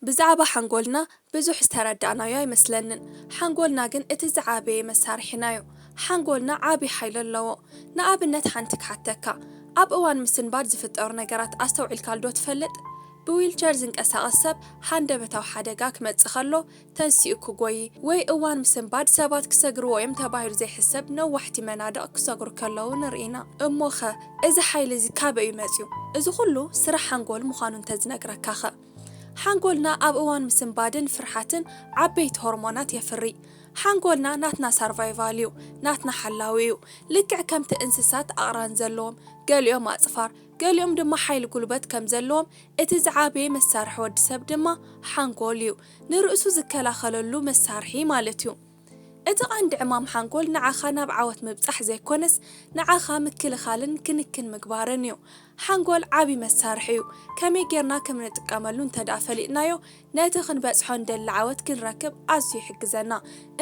ብዛዕባ ሓንጎልና ብዙሕ ዝተረዳእናዮ ኣይመስለንን፣ ሓንጎልና ግን እቲ ዝዓበየ መሳርሒናዮ። ሓንጎልና ዓቢ ሓይሊ ኣለዎ። ንኣብነት ሓንቲ ክሓተካ፣ ኣብ እዋን ምስንባት ዝፍጠሩ ነገራት ኣስተውዒልካልዶ ትፈልጥ? ብዊልቸር ዝንቀሳቐስ ሰብ ሃንደበታዊ ሓደጋ ክመጽእ ከሎ ተንሲኡ ክጎዪ፣ ወይ እዋን ምስንባድ ሰባት ክሰግርዎ እዮም ተባሂሉ ዘይሕሰብ ነዋሕቲ መናድቕ ክሰግሩ ከለዉ ንርኢ ኢና። እሞ'ኸ እዚ ሓይሊ እዚ ካበይ'ዩ መጺኡ? እዚ ኩሉ ስራሕ ሓንጎል ምዃኑ እንተዝነግረካ'ኸ? ሓንጎልና ኣብ እዋን ምስንባድን ፍርሓትን ዓበይቲ ሆርሞናት የፍሪ። ሓንጎልና ናትና ሳርቫይቫል እዩ፣ ናትና ሓላዊ እዩ። ልክዕ ከምቲ እንስሳት ኣቕራን ዘለዎም፣ ገሊኦም ኣጽፋር፣ ገሊኦም ድማ ሓይሊ ጉልበት ከም ዘለዎም፣ እቲ ዝዓበየ መሳርሒ ወዲ ሰብ ድማ ሓንጎል እዩ፣ ንርእሱ ዝከላኸለሉ መሳርሒ ማለት እዩ። እቲ ቀንዲ ዕማም ሓንጎል ንዓኻ ናብ ዓወት ምብጻሕ ዘይኮነስ ንዓኻ ምክልኻልን ክንክን ምግባርን እዩ። ሓንጎል ዓቢ መሳርሒ እዩ። ከመይ ጌርና ከም እንጥቀመሉ እንተድኣ ፈሊጥናዮ ነቲ ክንበጽሖ እንደሊ ዓወት ክንረክብ ኣዝዩ ይሕግዘና።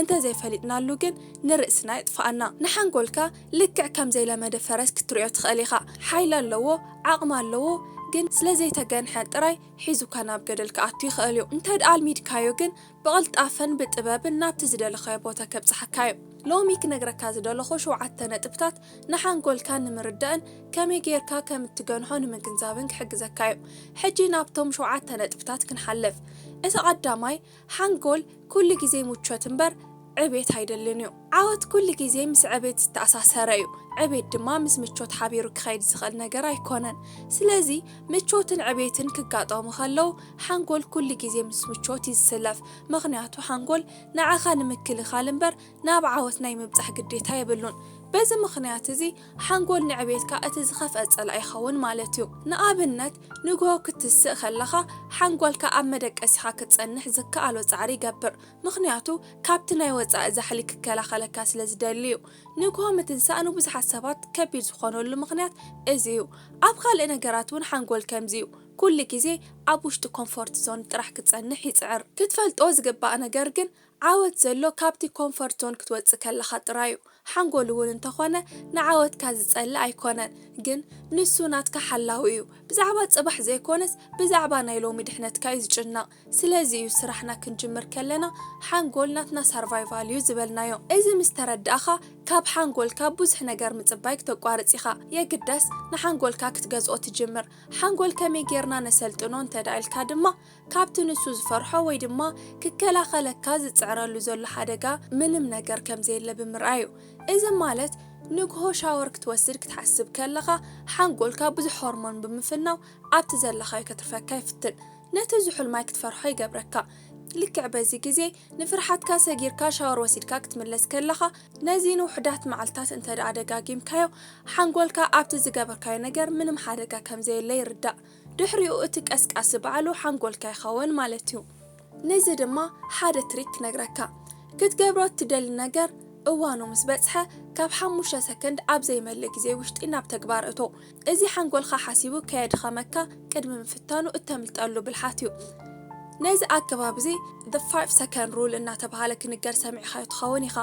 እንተ ዘይፈሊጥናሉ ግን ንርእስና የጥፍኣና። ንሓንጎልካ ልክዕ ከም ዘይለመደ ፈረስ ክትርእዮ ትኽእል ኢኻ። ሓይሊ ኣለዎ፣ ዓቕሚ ኣለዎ፣ ግን ስለ ዘይተገንሐ ጥራይ ሒዙካ ናብ ገደል ክኣቱ ይኽእል እዩ። እንተድኣ ኣልሚድካዮ ግን ብቅልጣፈን ብጥበብን ናብቲ ዝደለኻዮ ቦታ ከብጽሓካ እዩ። ሎሚ ክነግረካ ዝደለኹ ሸውዓተ ነጥብታት ንሓንጎልካ ንምርዳእን ከመይ ጌርካ ከም እትገንሖ ንምግንዛብን ክሕግዘካ እዩ። ሕጂ ናብቶም ሸውዓተ ነጥብታት ክንሓልፍ። እቲ ቀዳማይ ሓንጎል ኩሉ ግዜ ምቾት እምበር ዕብየት ኣይደልን እዩ። ዓወት ኩሉ ግዜ ምስ ዕቤት ዝተኣሳሰረ እዩ። ዕቤት ድማ ምስ ምቾት ሓቢሩ ክኸይድ ዝኽእል ነገር ኣይኮነን። ስለዚ ምቾትን ዕቤትን ክጋጠሙ ከለዉ ሓንጎል ኩሉ ግዜ ምስ ምቾት እዩ ዝስለፍ። ምኽንያቱ ሓንጎል ንዓኻ ንምክልኻል እምበር ናብ ዓወት ናይ ምብጻሕ ግዴታ የብሉን። በዚ ምኽንያት እዚ ሓንጎል ንዕቤትካ እቲ ዝኸፍኣ ጸላኢ ይኸውን ማለት እዩ። ንኣብነት ንግሆ ክትስእ ከለኻ ሓንጎልካ ኣብ መደቀሲኻ ክትጸንሕ ዝከኣሎ ጻዕሪ ይገብር። ምኽንያቱ ካብቲ ናይ ወጻኢ ዛሕሊ ክከላኸለካ ስለ ዝደሊ እዩ። ንግሆ ምትንሳእ ንብዙሓት ሰባት ከቢድ ዝኾነሉ ምኽንያት እዚ እዩ። ኣብ ካልእ ነገራት እውን ሓንጎል ከምዚ እዩ፣ ኩሉ ግዜ ኣብ ውሽጢ ኮምፎርት ዞን ጥራሕ ክጸንሕ ይጽዕር። ክትፈልጦ ዝግባእ ነገር ግን ዓወት ዘሎ ካብቲ ኮምፎርት ዞን ክትወጽእ ከለኻ ጥራይ እዩ። ሓንጎል እውን እንተኾነ ንዓወትካ ዝጸልእ ኣይኮነን፣ ግን ንሱ ናትካ ሓላዊ እዩ። ብዛዕባ ጽባሕ ዘይኮነስ ብዛዕባ ናይ ሎሚ ድሕነትካ እዩ ዝጭነቕ። ስለዚ እዩ ስራሕና ክንጅምር ከለና ሓንጎል ናትና ሳርቫይቫል እዩ ዝበልናዮ። እዚ ምስ ተረዳእኻ ካብ ሓንጎልካ ብዙሕ ነገር ምጽባይ ክተቋርጽ ኢኻ። የግዳስ ንሓንጎልካ ክትገዝኦ ትጅምር። ሓንጎል ከመይ ጌርና ነሰልጥኖ እንተድኣ ኢልካ ድማ ካብቲ ንሱ ዝፈርሖ ወይ ድማ ክከላኸለካ ዝጽዕረሉ ዘሎ ሓደጋ ምንም ነገር ከም ዘየለ ብምርኣይ እዩ። እዚ ማለት ንግሆ ሻወር ክትወስድ ክትሓስብ ከለኻ ሓንጎልካ ብዙሕ ሆርሞን ብምፍናው ኣብቲ ዘለኻዮ ከትርፈካ ይፍትን። ነቲ ዝሑል ማይ ክትፈርሖ ይገብረካ። ልክዕ በዚ ግዜ ንፍርሓትካ ሰጊርካ ሻወር ወሲድካ ክትምለስ ከለኻ ነዚ ንውሑዳት መዓልትታት እንተድኣ ደጋጊምካዮ ሓንጎልካ ኣብቲ ዝገበርካዮ ነገር ምንም ሓደጋ ከም ዘየለ ይርዳእ። ድሕሪኡ እቲ ቀስቃሲ ባዕሉ ሓንጎልካ ይኸውን ማለት እዩ። ንዚ ድማ ሓደ ትሪክ ክነግረካ። ክትገብሮ እትደሊ ነገር እዋኑ ምስ በጽሐ ካብ ሓሙሽተ ሰከንድ ኣብ ዘይመልእ ግዜ ውሽጢ ናብ ተግባር እቶ። እዚ ሓንጎልካ ሓሲቡ ከየድኸመካ ቅድሚ ምፍታኑ እተምልጠሉ ብልሓት እዩ። ነዚ ኣገባብ እዚ The Five Second Rule እናተብሃለ ክንገር ሰሚዕካዮ ትኸውን ኢኻ።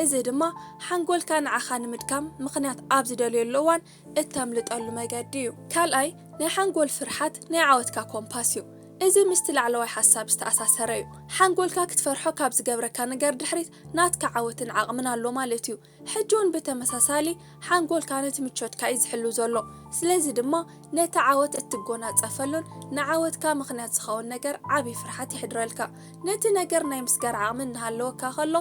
እዚ ድማ ሓንጎልካ ንዓኻ ንምድካም ምኽንያት ኣብ ዝደልየሉ እዋን እተምልጠሉ መገዲ እዩ። ካልኣይ፣ ናይ ሓንጎል ፍርሓት ናይ ዓወትካ ኮምፓስ እዩ። እዚ ምስቲ ላዕለዋይ ሓሳብ ዝተኣሳሰረ እዩ። ሓንጎልካ ክትፈርሖ ካብ ዝገብረካ ነገር ድሕሪት ናትካ ዓወትን ዓቕምን ኣሎ ማለት እዩ። ሕጂ ውን ብተመሳሳሊ ሓንጎልካ ነቲ ምቾትካ እዩ ዝሕሉ ዘሎ፣ ስለዚ ድማ ነቲ ዓወት እትጎናጸፈሉን ንዓወትካ ምኽንያት ዝኸውን ነገር ዓቢ ፍርሓት የሕድረልካ። ነቲ ነገር ናይ ምስጋር ዓቕሚ እናሃለወካ ከሎ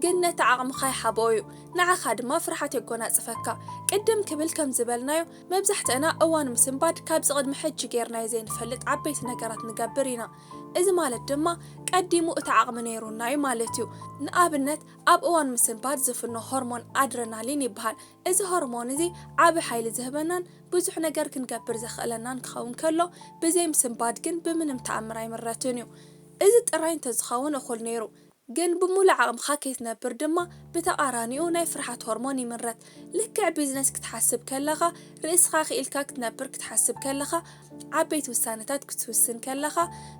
ግን ነቲ ዓቕምኻ ይሓብኦ እዩ፣ ንዓኻ ድማ ፍርሓት የጎናጽፈካ። ቅድም ክብል ከም ዝበልናዮ መብዛሕትእና እዋን ምስንባድ ካብዚ ቅድሚ ሕጂ ጌርናዮ ዘይንፈልጥ ዓበይቲ ነገራት ንገብር ኢና፣ እዚ ማለት ድማ ቀዲሙ እቲ ዓቕሚ ነይሩና እዩ ማለት እዩ። ንኣብነት ኣብ እዋን ምስንባት ዝፍኖ ሆርሞን ኣድረናሊን ይበሃል። እዚ ሆርሞን እዚ ዓቢ ሓይሊ ዝህበናን ብዙሕ ነገር ክንገብር ዘኽእለናን ክኸውን ከሎ፣ ብዘይ ምስንባት ግን ብምንም ተኣምር ኣይምረትን እዩ። እዚ ጥራይ እንተዝኸውን እኹል ነይሩ። ግን ብምሉእ ዓቕምኻ ከይትነብር ድማ ብተቓራኒኡ ናይ ፍርሓት ሆርሞን ይምረት። ልክዕ ቢዝነስ ክትሓስብ ከለኻ፣ ርእስኻ ክኢልካ ክትነብር ክትሓስብ ከለኻ፣ ዓበይቲ ውሳነታት ክትውስን ከለኻ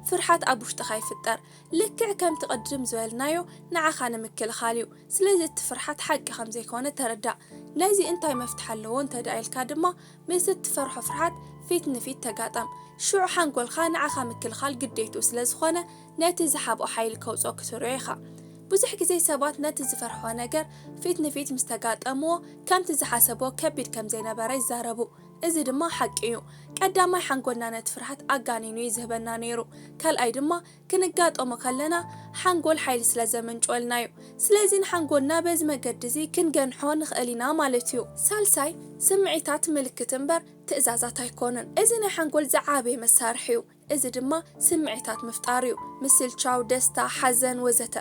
ፍርሓት ኣብ ውሽጥኻ ይፍጠር። ልክዕ ከምቲ ቅድም ዝበልናዮ ንዓኻ ንምክልኻል እዩ ስለዚ እቲ ፍርሓት ሓቂ ከምዘይኮነ ተረዳእ ነዚ እንታይ መፍትሒ ኣለዎ እንተድኣ ኢልካ ድማ ምስ እትፈርሖ ፍርሓት ፊት ንፊት ተጋጠም ሽዑ ሓንጎልካ ንዓኻ ምክልኻል ግዴትኡ ስለዝኾነ ነቲ ዝሓብኦ ሓይሊ ከውጽኦ ክትርእዮ ኢኻ ብዙሕ ግዜ ሰባት ነቲ ዝፈርሕዎ ነገር ፊት ንፊት ምስ ተጋጠምዎ ከምቲ ዝሓሰብዎ ከቢድ ከምዘይነበረ ይዛረቡ እዚ ድማ ሓቂ እዩ ቀዳማይ ሓንጎልና ነቲ ፍርሓት ኣጋኒኑ እዩ ዝህበና ነይሩ ካልኣይ ድማ ክንጋጠሞ ከለና ሓንጎል ሓይሊ ስለ ዘምንጭወልና እዩ። ስለዚ ንሓንጎልና በዚ መገዲ እዚ ክንገንሖ ንኽእል ኢና ማለት እዩ። ሳልሳይ፣ ስምዒታት ምልክት እምበር ትእዛዛት ኣይኮኑን። እዚ ናይ ሓንጎል ዝዓበየ መሳርሒ እዩ። እዚ ድማ ስምዒታት ምፍጣር እዩ፣ ምስልቻው፣ ደስታ፣ ሓዘን ወዘተ።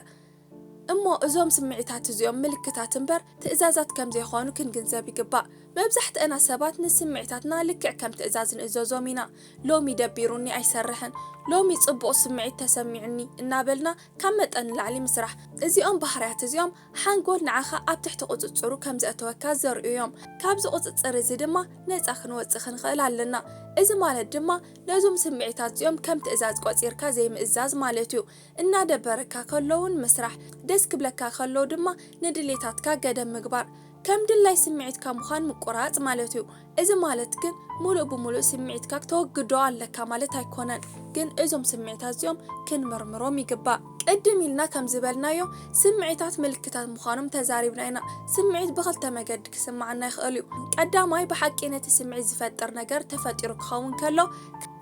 እሞ እዞም ስምዒታት እዚኦም ምልክታት እምበር ትእዛዛት ከም ዘይኮኑ ክንግንዘብ ይግባእ። መብዛሕትእና ሰባት ንስምዒታትና ልክዕ ከም ትእዛዝ ንእዘዞም ኢና። ሎሚ ደቢሩኒ ኣይሰርሕን፣ ሎሚ ጽቡቕ ስምዒት ተሰሚዑኒ እናበልና ካብ መጠን ንላዕሊ ምስራሕ። እዚኦም ባህርያት እዚኦም ሓንጎል ንዓኻ ኣብ ትሕቲ ቁጽጽሩ ከም ዘእተወካ ዘርእዩ እዮም። ካብዚ ቁጽጽር እዚ ድማ ነጻ ክንወጽእ ክንኽእል ኣለና። እዚ ማለት ድማ ነዞም ስምዒታት እዚኦም ከም ትእዛዝ ቆጺርካ ዘይምእዛዝ ማለት እዩ። እናደበረካ ከሎ'ውን ምስራሕ፣ ደስ ክብለካ ከሎ ድማ ንድሌታትካ ገደብ ምግባር። ከም ድላይ ስምዒትካ ምዃን ምቁራጽ ማለት'ዩ። እዚ ማለት ግን ምሉእ ብምሉእ ስምዒትካ ክተወግዶ ኣለካ ማለት ኣይኮነን። ግን እዞም ስምዒታት'ዚኦም ክንምርምሮም ይግባእ። ቅድም ኢልና ከም ዝበልናዮ ስምዒታት ምልክታት ምዃኖም ተዛሪብና ኢና። ስምዒት ብኽልተ መገዲ ክስምዓና ይኽእል'ዩ። ቀዳማይ ብሓቂ ነቲ ስምዒት ዝፈጥር ነገር ተፈጢሩ ክኸውን ከሎ፣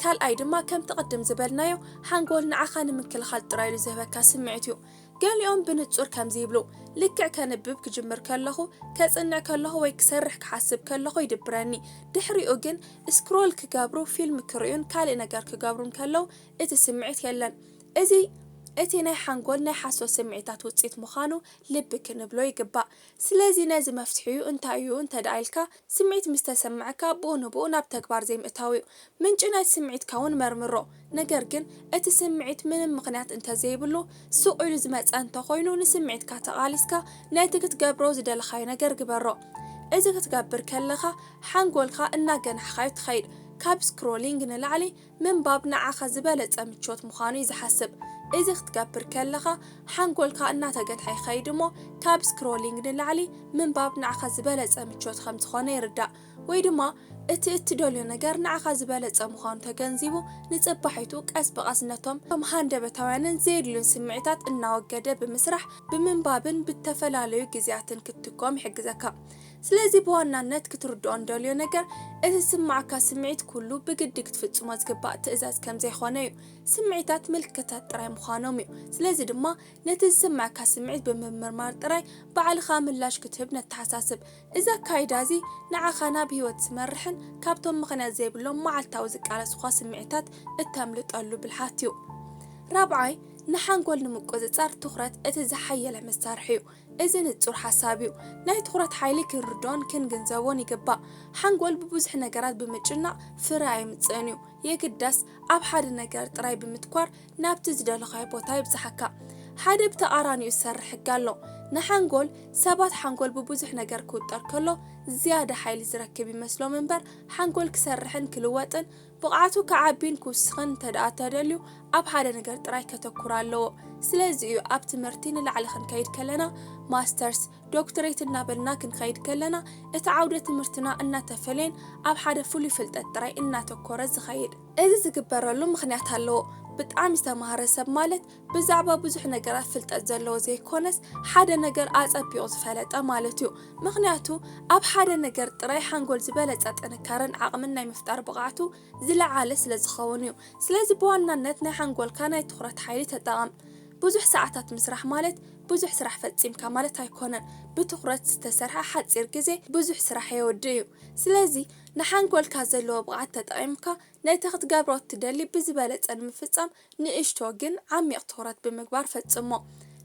ካልኣይ ድማ ከምቲ ቅድም ዝበልናዮ፣ ሓንጎል ንዓኻ ንምክልኻል ጥራይ ኢሉ ዝህበካ ስምዒት እዩ። ገሊኦም ብንጹር ከምዚ ይብሉ፣ ልክዕ ከንብብ ክጅምር ከለኹ፣ ከጽንዕ ከለኹ ወይ ክሰርሕ ክሓስብ ከለኹ ይድብረኒ። ድሕሪኡ ግን ስክሮል ክገብሩ፣ ፊልም ክርእዩን ካልእ ነገር ክገብሩን ከለው እቲ ስምዒት የለን። እዚ እቲ ናይ ሓንጎል ናይ ሓሶት ስምዒታት ውጽኢት ምዃኑ ልቢ ክንብሎ ይግባእ። ስለዚ ነዚ መፍትሒኡ እንታይ እዩ እንተድኣ ኢልካ፣ ስምዒት ምስ ተሰመዐካ ብኡ ንብኡ ናብ ተግባር ዘይምእታው እዩ። ምንጪ ናይቲ ስምዒትካ እውን መርምሮ። ነገር ግን እቲ ስምዒት ምንም ምኽንያት እንተዘይብሉ ሱቕ ኢሉ ዝመጸ እንተኾይኑ ንስምዒትካ ተቓሊስካ ነቲ ክትገብሮ ዝደለኻዮ ነገር ግበሮ። እዚ ክትገብር ከለኻ ሓንጎልካ እናገናሕኻዮ ትኸይድ። ካብ ስክሮሊንግ ንላዕሊ፣ ምንባብ ንዓኻ ዝበለጸ ምቾት ምዃኑ እዩ ዝሓስብ። እዚ ክትገብር ከለኻ ሓንጎልካ እናተገትሐ ይኸይድ እሞ ካብ ስክሮሊንግ ንላዕሊ ምንባብ ንዓኻ ዝበለጸ ምቾት ከም ዝኾነ ይርዳእ። ወይ ድማ እቲ እትደልዮ ነገር ንዓኻ ዝበለጸ ምዃኑ ተገንዚቡ ንጽባሒቱ ቀስ ብቐስ ነቶም እቶም ሃንደበታውያንን ዘየድልዩን ስምዒታት እናወገደ ብምስራሕ ብምንባብን ብተፈላለዩ ግዜያትን ክትትኮም ይሕግዘካ። ስለዚ ብዋናነት ክትርድኦ እንደልዮ ነገር እቲ ዝስምዓካ ስምዒት ኩሉ ብግዲ ክትፍጽሞ ዝግባእ ትእዛዝ ከም ዘይኮነ እዩ። ስምዒታት ምልክታት ጥራይ ምዃኖም እዩ። ስለዚ ድማ ነቲ ዝስምዓካ ስምዒት ብምምርማር ጥራይ ባዕልኻ ምላሽ ክትህብ ነተሓሳስብ። እዚ ኣካይዳ እዚ ንዓኻ ናብ ህይወት ዝመርሕን ካብቶም ምኽንያት ዘይብሎም መዓልታዊ ዝቃለሱኻ ስምዒታት እተምልጠሉ ብልሓት እዩ። ራብዓይ፣ ንሓንጎል ንምቁጽጻር ትኹረት እቲ ዝሓየለ መሳርሒ እዩ። እዚ ንጹር ሓሳብ እዩ። ናይ ትኹረት ሓይሊ ክንርድኦን ክንግንዘቦን ይግባእ። ሓንጎል ብብዙሕ ነገራት ብምጭናቕ ፍረ ኣየምጽእን እዩ። የግዳስ ኣብ ሓደ ነገር ጥራይ ብምትኳር ናብቲ ዝደለኻዮ ቦታ የብጽሓካ። ሓደ ብተቓራኒኡ ዝሰርሕ ሕጊ ኣሎ። ንሓንጎል ሰባት ሓንጎል ብብዙሕ ነገር ክውጠር ከሎ ዝያዳ ሓይሊ ዝረክብ ይመስሎም እምበር ሓንጎል ክሰርሕን ክልወጥን ብቕዓቱ ክዓቢን ክውስኽን እንተድኣ ተደልዩ ኣብ ሓደ ነገር ጥራይ ከተኩር ኣለዎ። ስለዚ እዩ ኣብ ትምህርቲ ንላዕሊ ክንከይድ ከለና ማስተርስ፣ ዶክትሬት እናበልና ክንኸይድ ከለና እቲ ዓውደ ትምህርትና እናተፈለየን ኣብ ሓደ ፍሉይ ፍልጠት ጥራይ እናተኮረ ዝኸይድ። እዚ ዝግበረሉ ምኽንያት ኣለዎ። ብጣዕሚ ዝተማህረ ሰብ ማለት ብዛዕባ ብዙሕ ነገራት ፍልጠት ዘለዎ ዘይኮነስ ሓደ ነገር ኣጸቢቑ ዝፈለጠ ማለት እዩ። ምኽንያቱ ኣብ ሓደ ነገር ጥራይ ሓንጎል ዝበለጸ ጥንካረን ዓቕምን ናይ ምፍጣር ብቕዓቱ ዝለዓለ ስለ ዝኸውን እዩ። ስለዚ ብዋናነት ናይ ሓንጎልካ ናይ ትኹረት ሓይሊ ተጠቐም። ብዙሕ ሰዓታት ምስራሕ ማለት ብዙሕ ስራሕ ፈጺምካ ማለት ኣይኮነን። ብትኹረት ዝተሰርሐ ሓጺር ግዜ ብዙሕ ስራሕ የወድእ እዩ። ስለዚ ንሓንጎልካ ዘለዎ ብቕዓት ተጠቒምካ ነቲ ክትገብሮ እትደሊ ብዝበለጸ ንምፍጻም ንእሽቶ ግን ዓሚቕ ትኹረት ብምግባር ፈጽሞ።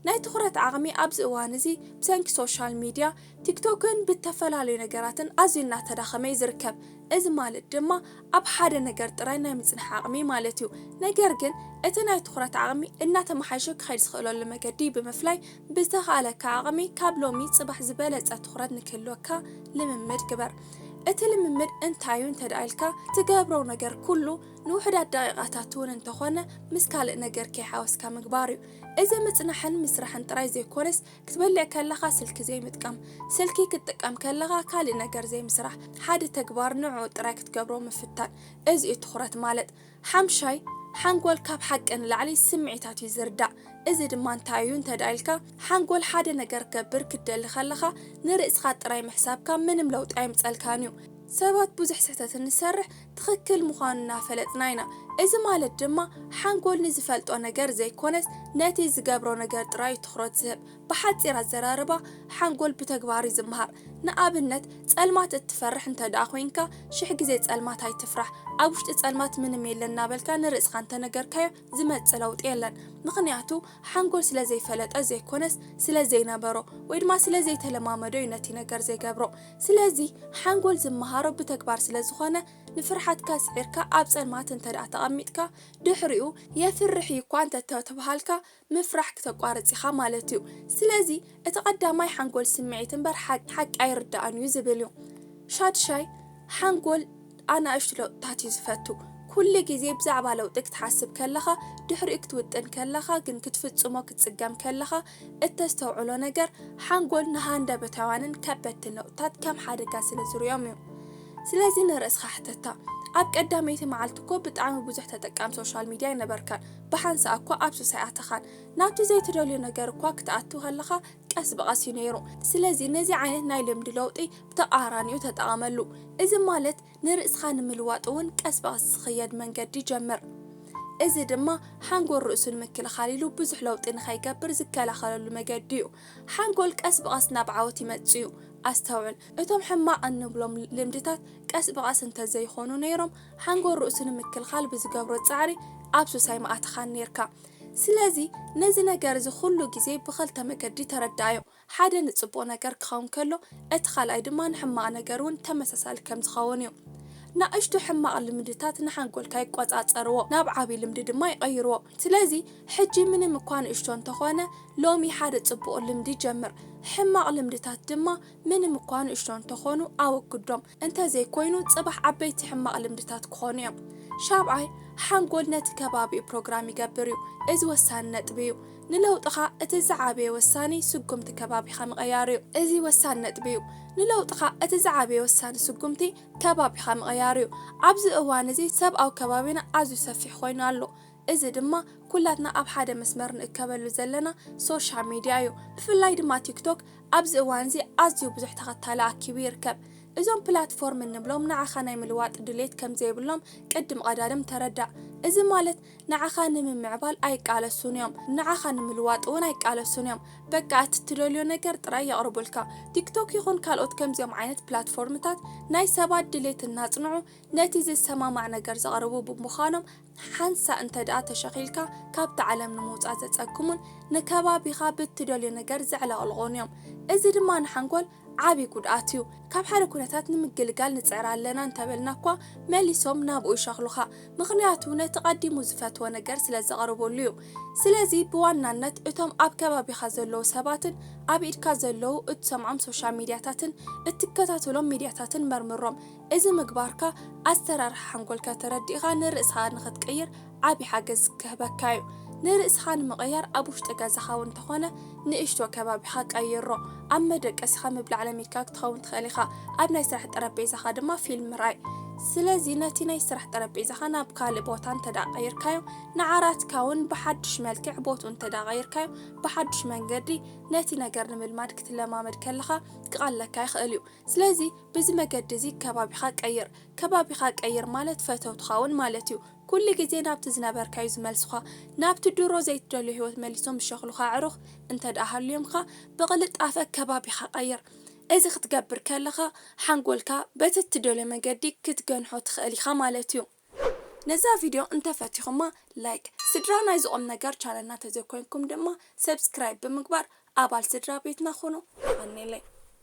ናይ ትኹረት ዓቕሚ ኣብዚ እዋን እዚ ብሰንኪ ሶሻል ሚድያ፣ ቲክቶክን ብእተፈላለዩ ነገራትን ኣዝዩ እናተዳኸመ እዩ ዝርከብ። እዚ ማለት ድማ ኣብ ሓደ ነገር ጥራይ ናይ ምጽናሕ ዓቕሚ ማለት እዩ። ነገር ግን እቲ ናይ ትኹረት ዓቕሚ እናተመሓየሸ ክኸይድ ዝኽእለሉ መገዲ ብምፍላይ ብዝተኻእለካ ዓቕሚ ካብ ሎሚ ጽባሕ ዝበለጸ ትኹረት ንክህልወካ ልምምድ ግበር። እቲ ልምምድ እንታይ እዩ እንተድኣ ኢልካ፣ ትገብሮ ነገር ኩሉ፣ ንውሑዳት ደቒቓታት እውን እንተኾነ ምስ ካልእ ነገር ከይሓወስካ ምግባር እዩ። እዚ ምጽናሕን ምስራሕን ጥራይ ዘይኮነስ፣ ክትበልዕ ከለኻ ስልኪ ዘይምጥቃም፣ ስልኪ ክትጥቀም ከለኻ ካልእ ነገር ዘይምስራሕ፣ ሓደ ተግባር ንዕኡ ጥራይ ክትገብሮ ምፍታን፣ እዚ እዩ ትኹረት ማለት። ሓምሻይ፣ ሓንጎል ካብ ሓቂ ንላዕሊ ስምዒታት እዩ ዝርዳእ። እዚ ድማ እንታይ እዩ እንተድኣ ኢልካ፣ ሓንጎል ሓደ ነገር ክገብር ክትደሊ ከለኻ ንርእስኻ ጥራይ ምሕሳብካ ምንም ለውጢ ኣየምጸልካን እዩ። ሰባት ብዙሕ ስሕተት እንሰርሕ ትኽክል ምዃኑ እናፈለጥና ኢና። እዚ ማለት ድማ ሓንጎል ንዝፈልጦ ነገር ዘይኮነስ ነቲ ዝገብሮ ነገር ጥራይ እዩ ትኹረት ዝህብ። ብሓጺር ኣዘራርባ ሓንጎል ብተግባር እዩ ዝመሃር። ንኣብነት ጸልማት እትፈርሕ እንተድኣ ኮይንካ ሽሕ ግዜ ጸልማት ኣይትፍራሕ። ኣብ ውሽጢ ጸልማት ምንም የለን እናበልካ ንርእስኻ እንተነገርካዮ፣ ዝመጽእ ለውጢ የለን ምኽንያቱ ሓንጎል ስለ ዘይፈለጠ ዘይኮነስ ስለ ዘይነበሮ ወይ ድማ ስለ ዘይተለማመዶ እዩ ነቲ ነገር ዘይገብሮ ስለዚ ሓንጎል ዝመሃሮ ብተግባር ስለ ዝኾነ ንፍርሓትካ ስዒርካ ኣብ ጸልማት እንተ ደኣ ተቐሚጥካ ድሕሪኡ የፍርሕ እዩ እኳ እንተ ተብሃልካ ምፍራሕ ክተቋርጽ ኢኻ ማለት እዩ ስለዚ እቲ ቀዳማይ ሓንጎል ስምዒት እምበር ሓቂ ሓቂ ኣይርደኣን እዩ ዝብል እዩ። ሻድሻይ ሓንጎል ኣናእሽቱ ለውጥታት እዩ ዝፈቱ። ኩሉ ግዜ ብዛዕባ ለውጢ ክትሓስብ ከለኻ፣ ድሕሪኡ ክትውጥን ከለኻ ግን ክትፍጽሞ ክትጽገም ከለኻ እተስተውዕሎ ነገር፣ ሓንጎል ንሃንደበታውያንን ከበድትን ለውጥታት ከም ሓደጋ ስለ ዝርእዮም እዩ። ስለዚ ንርእስኻ ሕተታ፣ ኣብ ቀዳመይቲ መዓልቲ እኮ ብጣዕሚ ብዙሕ ተጠቃሚ ሶሻል ሚድያ ኣይነበርካን፣ ብሓንሳእ እኮ ኣብ ሱሳይ ኣተኻን፣ ናብቲ ዘይትደልዮ ነገር እኳ ክትኣቱ ከለኻ ቀስ ብቐስ እዩ ነይሩ። ስለዚ ነዚ ዓይነት ናይ ልምዲ ለውጢ ብተቓራኒኡ ተጠቐመሉ። እዚ ማለት ንርእስኻ ንምልዋጥ እውን ቀስ ብቐስ ዝኽየድ መንገዲ ጀምር። እዚ ድማ ሓንጎል ርእሱ ንምክልኻል ኢሉ ብዙሕ ለውጢ ንኸይገብር ዝከላኸለሉ መገዲ እዩ። ሓንጎል ቀስ ብቐስ ናብ ዓወት ይመጽእ እዩ። ኣስተውዕል፣ እቶም ሕማቕ እንብሎም ልምድታት ቀስ ብቐስ እንተ ዘይኾኑ ነይሮም፣ ሓንጎል ርእሱ ንምክልኻል ብዝገብሮ ጻዕሪ ኣብ ሱስ ኣይምኣተኻን ነይርካ። ስለዚ ነዚ ነገር እዚ ኹሉ ግዜ ብኸልተ መገዲ ተረዳኣዮ፣ ሓደ ንጽቡቕ ነገር ክኸውን ከሎ እቲ ካልኣይ ድማ ንሕማቕ ነገር ውን ተመሳሳሊ ከም ዝኸውን እዩ። ናእሽቱ ሕማቕ ልምድታት ንሓንጎልካ ይቆጻጸርዎ ናብ ዓቢ ልምዲ ድማ ይቐይርዎ። ስለዚ ሕጂ ምንም እኳ ንእሽቶ እንተኾነ ሎሚ ሓደ ጽቡቕ ልምዲ ጀምር፣ ሕማቕ ልምድታት ድማ ምንም እኳ ንእሽቶ እንተኾኑ ኣወግዶም፣ እንተዘይኮይኑ ጽባሕ ዓበይቲ ሕማቕ ልምድታት ክኾኑ እዮም። ሻብዓይ፣ ሓንጎል ነቲ ከባቢኡ ፕሮግራም ይገብር እዩ። እዚ ወሳኒ ነጥቢ እዩ። ንለውጥኻ እቲ ዝዓበየ ወሳኒ ስጉምቲ ከባቢኻ ምቕያር እዩ። እዚ ወሳኒ ነጥቢ እዩ። ንለውጥኻ እቲ ዝዓበየ ወሳኒ ስጉምቲ ከባቢኻ ምቕያር እዩ። ኣብዚ እዋን እዚ ሰብኣዊ ከባቢና ኣዝዩ ሰፊሕ ኮይኑ ኣሎ። እዚ ድማ ኩላትና ኣብ ሓደ መስመር ንእከበሉ ዘለና ሶሻ ሚድያ እዩ። ብፍላይ ድማ ቲክቶክ ኣብዚ እዋንዚ ኣዝዩ ብዙሕ ተኸታሊ ኣኪቡ ይርከብ። እዞም ፕላትፎርም እንብሎም ንዓኻ ናይ ምልዋጥ ድሌት ከምዘይብሎም ቅድም ቐዳድም ተረዳእ። እዚ ማለት ንዓኻ ንምምዕባል ኣይቃለሱን እዮም፣ ንዓኻ ንምልዋጥ እውን ኣይቃለሱን እዮም። በቃ እቲ እትደልዮ ነገር ጥራይ የቕርቡልካ። ቲክቶክ ይኹን ካልኦት ከምዚኦም ዓይነት ፕላትፎርምታት ናይ ሰባት ድሌት እናጽንዑ ነቲ ዝሰማማዕ ነገር ዘቕርቡ ብምዃኖም ሓንሳእ እንተድኣ ተሸኺልካ ካብታ ዓለም ንምውጻእ ዘጸግሙን ንከባቢኻ ብትደልዮ ነገር ዘዕለቕልቑን እዮም። እዚ ድማ ንሓንጎል ዓቢ ጉድኣት እዩ። ካብ ሓደ ኩነታት ንምግልጋል ንጽዕር ኣለና እንተበልና'ኳ መሊሶም ናብኡ ይሸኽሉኻ። ምኽንያቱ ነቲ ቀዲሙ ዝፈትዎ ነገር ስለ ዘቕርቡሉ እዩ። ስለዚ ብዋናነት እቶም ኣብ ከባቢኻ ዘለዉ ሰባትን ኣብ ኢድካ ዘለዉ እትሰምዖም ሶሻል ሚድያታትን እትከታተሎም ሚድያታትን መርምሮም። እዚ ምግባርካ ኣሰራርሓ ሓንጎልካ ተረዲእኻ ንርእስኻ ንኽትቅይር ዓቢ ሓገዝ ክህበካ'ዩ። ንርእስኻ ንምቕያር ኣብ ውሽጢ ገዛኻ እውን እንተኾነ ንእሽቶ ከባቢኻ ቀይሮ። ኣብ መደቀሲኻ ምብላዕ ለሚድካ ክትኸውን ትኽእል ኢኻ፣ ኣብ ናይ ስራሕ ጠረጴዛኻ ድማ ፊልም ምርኣይ። ስለዚ ነቲ ናይ ስራሕ ጠረጴዛኻ ናብ ካልእ ቦታ እንተድኣ ቀይርካዮ፣ ንዓራትካ እውን ብሓድሽ መልክዕ ቦትኡ እንተድኣ ቀይርካዮ፣ ብሓድሽ መንገዲ ነቲ ነገር ንምልማድ ክትለማመድ ከለኻ ክቐለካ ይኽእል'ዩ። ስለዚ። ብዚ መገዲ እዚ ከባቢኻ ቀይር። ከባቢኻ ቀይር ማለት ፈተውትኻ እውን ማለት እዩ። ኩሉ ግዜ ናብቲ ዝነበርካዩ ዝመልሱኻ። ናብቲ ድሮ ዘይትደልዮ ህይወት መሊሶም ዝሸኽሉኻ ኣዕሩኽ እንተድኣ ሃልዮምካ ብቕልጣፈ ከባቢኻ ቀይር። እዚ ክትገብር ከለኻ ሓንጎልካ በቲ እትደልዮ መገዲ ክትገንሖ ትኽእል ኢኻ ማለት እዩ። ነዛ ቪድዮ እንተፈቲኹማ ላይክ፣ ስድራ ናይዚ ቁምነገር ቻነልና ተዘይኮይንኩም ድማ ሰብስክራይብ ብምግባር ኣባል ስድራ ቤትና ኩኑ። የቐኔለይ።